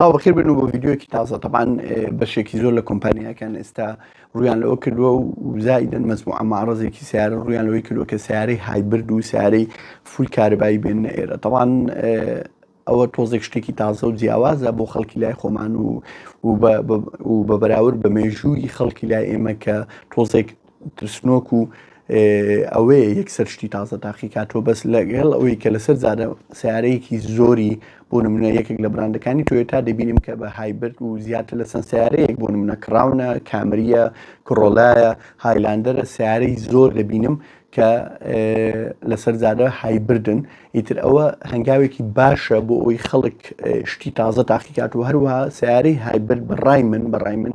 سڵاو بەخێر بێن و بۆ ڤیدیۆکی تازە تەبان بەشێکی زۆر لە کۆمپانیاکان ئێستا ڕویان لەوە کردووە و زایدن مەزموع ئەماڕزێکی سیارە ڕویان لەوەی کردووە کە سیارەی هایبرد و سیارەی فول کارەبایی بێنە ئێرە تەوان ئەوە تۆزێک شتێکی تازە و جیاوازە بۆ خەڵکی لای خۆمان و و بە بەراورد بە مێژووی خەڵکی لای ئێمە کە تۆزێک ترسنۆک و ئەوەیە یەکسەر شتی تازە تاقی کاتەوە بەس لەگەڵ ئەوەی کە لەسەر زارە سیارەیەکی زۆری بۆ نمونە یەکێک لە براندەکانی تۆێتا دەبینیم کە بە هایبرد و زیاتر لە چەند سیارەیەک بۆ نمونە کراونە کامریە کڕۆلایە هایلاندەرە سیارەی زۆر دەبینم کە لەسەر زارە هایبردن ئیتر ئەوە هەنگاوێکی باشە بۆ ئەوی خەڵک شتی تازە تاقیکات و هەروە سیارەی هایبرد بەڕای من بەڕای من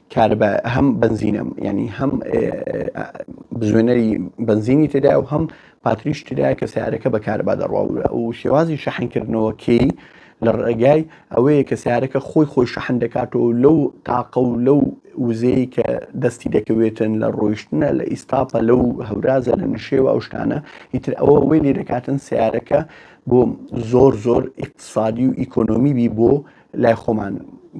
کارەبا هەم بەنزینە ینی هەم بزوێنەری بەنزینی تێدا و هەم پاتریش تێدا کە سیارەکە بە کارەبا دەڕواورە و شێوازی شەحنکردنەوە کێی لە ڕێگای ئەوەیە کە سیارەکە خۆی خۆی شەحن دەکاتەوە لەو تاقە و لەو وزەیە کە دەستی دەکەوێتن لە ڕۆیشتنە لە ئیستاپە لەو هەورازە لە نشێوە ئەو شتانە هیتر ئەوە وی لێ دەکاتن سیارەکە بۆ زۆر زۆر ئیقتصادی و ئیکۆنۆمی بی بۆ لای خۆمان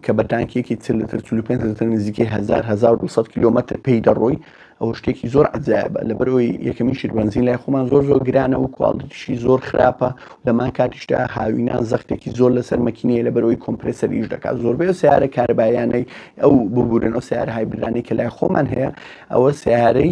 کە بە تانکیەکی چل لتر 45 لتر نزیکەی 1900 کیلومتر پێی دەڕۆی ئەو شتێکی زۆر عجایبە لەبەرەوەی یەکەمی شیربنزین لای خۆمان زۆر زۆر گرانە و کوالتیشی زۆر خراپە لەمان کاتیشتا هاوینان زەختێکی زۆر لەسەر مەکینەیە لەبەرەوەی کۆمپرسەریش دەکات زۆربەی و سیارە کاربایانەی ئەو ببورن ئەو سیار هایبرانی کە لای خۆمان هەیە ئەوە سیارەی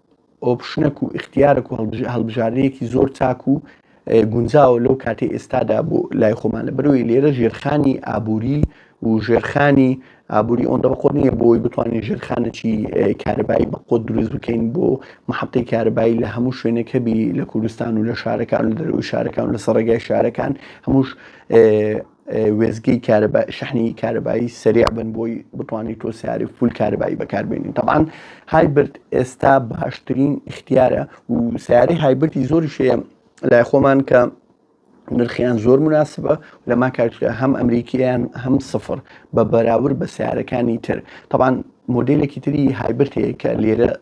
ئۆپشنەک و ئیختیارەک و هەڵبژاردەیەکی زۆر چاک و گونجاوە لەو کاتی ئێستادا بۆ لای خۆمان لە بەرەوەی لێرە ژێرخانی ئابووری و ژێرخانی ئابووری ئەوەندە بەقۆت نییە بۆی بتوانین ژێرخانێکی کارەبایی بەقۆت دروست بکەین بۆ محەبتی کارەبایی لە هەموو شوێنەکەبی لە کوردستان و لە شارەکان و دەروی شارەکان و لە سەڕێگای شارەکان هەمووش وێستگەی کارەبا شەحنی کارەبایی سەریع بن بۆی بتوانیت تۆ سیاری فول کارەبایی بەکاربێنین طبعاان هایبرد ئێستا باشترین اختیارە و سیاری هایبرتی زۆری شەیە لای خۆمان کە نرخیان زۆر مناسبە لە ما کارتە هەم ئەمریکیان هەم سفر بە بەراورد بە سیارەکانی تر طبعاان مۆدلێکی تری هایبرتەیە کە لێرە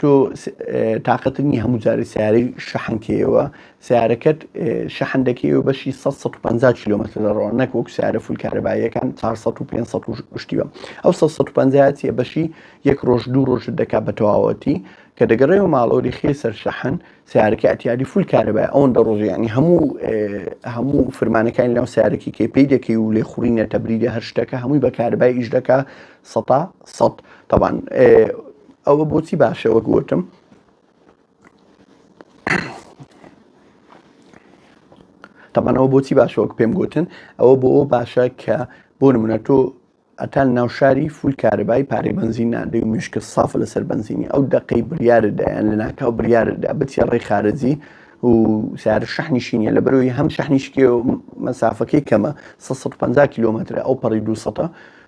تۆ تاقەتت نیە هەموو جارێ سیارەی شەحن کەیەوە سیارەکەت شەحن دەکەی و بەشی 150 کیلومتر دەڕۆ نەک وەک سیارە فول کارەباییەکان 400 و 500 شتیوە ئەو 150 چیە بەشی یەک ڕۆژ دوو ڕۆژ دەکات بە تەواوەتی کە دەگەڕێەوە ماڵۆری خێ سەر شەحن سیارەکە ئەتیادی فول کارەبای ئەوەن دە ڕۆژیانی هەموو هەموو فرمانەکانی لەو سیارەکی کەی پێی دەکەی و لێ خوڕینە تەبریدە هەر شتەکە هەمووی بەکاربای ئیش دەکە سەتا سەد تەبان ئەوە بۆچی باشە وەک وتم تەبانەوە بۆچی باشە وەک پێم گوتن ئەوە بۆ باشە کە بۆ نمونە تۆ ئەتان ناوشاری فول کارەبای پارەی بنزین نادەی و مشکە سافە لەسەر بنزینی ئەو دقەی بریاردایان لە ناکاو بریاردا بچێ ڕێی خارجی و سار شەحنی شینە لە بەرەوەی هەم شەحنیشکێ و مەسافەکەی کەمە 150 کیلومترە ئەو پەڕی دوسە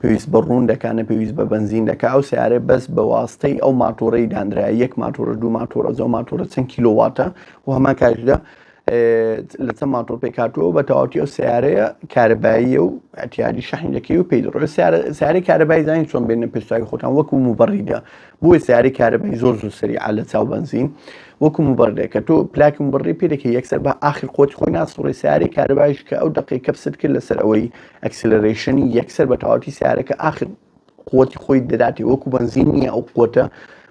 پێویست بە ڕوون دەکا نە پێویست بە بەنزین دەکا ئەو سیارە بەس بە واستەی ئەو ماتۆڕی دانرا یەک ماتۆرە دوو ماتۆرە زۆ ماتۆرە چەند کیلوواتە و هەمان کاریدا لە چەند ماتۆر پێکاتەوە بە تەواتی ئەو سیارەیە کارەباییە و ئەتیادی شەحین دەکەی و پێی دەڕۆێت سیاری کارەبای زانین چۆن بێنە پێشتاوی خۆتان وەکو موبڕیدا بۆی سیاری کارەبای زۆر زوو سەری عالە چاو بنزین وەکو موبڕێ کە تۆ پلاکم بڕی پێدەکە یەکسەر بە ئاخر خۆت خۆی ناسڕی سیاری کارەبایش کە ئەو دقی کەپست کرد لەسەر ئەوەی ئەکسلەرەیشنی یەکسەر بە تەواوەتی سیارەکە ئاخر قوتی خۆی دەداتێ وەکو بەنزین نییە ئەو قوتە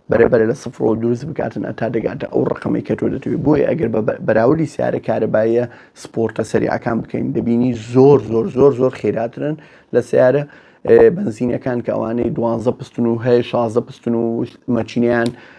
بەرەبەرە لە سفرەوە دروست بکاتن ئەتا دەگاتە ئەو ڕقەمەی کە تۆ دەتوێت بۆیە ئەگەر بە بەراوردی سیارە کارەبایە سپۆرتە سەریعەکان بکەین دەبینی زۆر زۆر زۆر زۆر خێراترن لە سیارە بنزینەکان کە ئەوانەی دوانزە پستن و هەیە شازە پستن و مەچینیان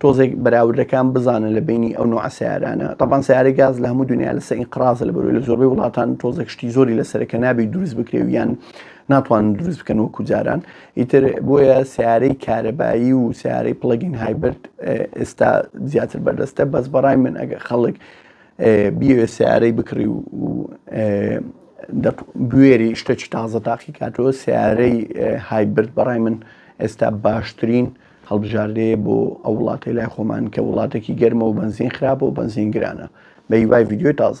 تۆزێک بەراوردەکان بزانە لە بەینی ئەو نوعە سەیارانە تەبان سەیارەی گاز لە هەموو دنیا لەسە ئینقرازە لە بەروی لە زۆربەی وڵاتان تۆزێک شتی زۆری لەسەر کە نابی دروست بکرێ و یان ناتوان دروست بکەن وەکو جاران ئیتر بۆیە سیارەی کارەبایی و سیارەی پڵگین هایبرد ئێستا زیاتر بەردەستە بەس بەڕای من ئەگە خەڵک بیوێ سیارەی بکڕی و بوێری شتەکی تازە تاقی کاتەوە سیارەی هایبرد بەڕای من ئێستا باشترین هەڵبژاردەیە بۆ ئەو وڵاتەی لای خۆمان کە وڵاتەکی گەرمە و بەنزین خراپە و بەنزین گرانە بەهیوای ڤیدیۆی تازە.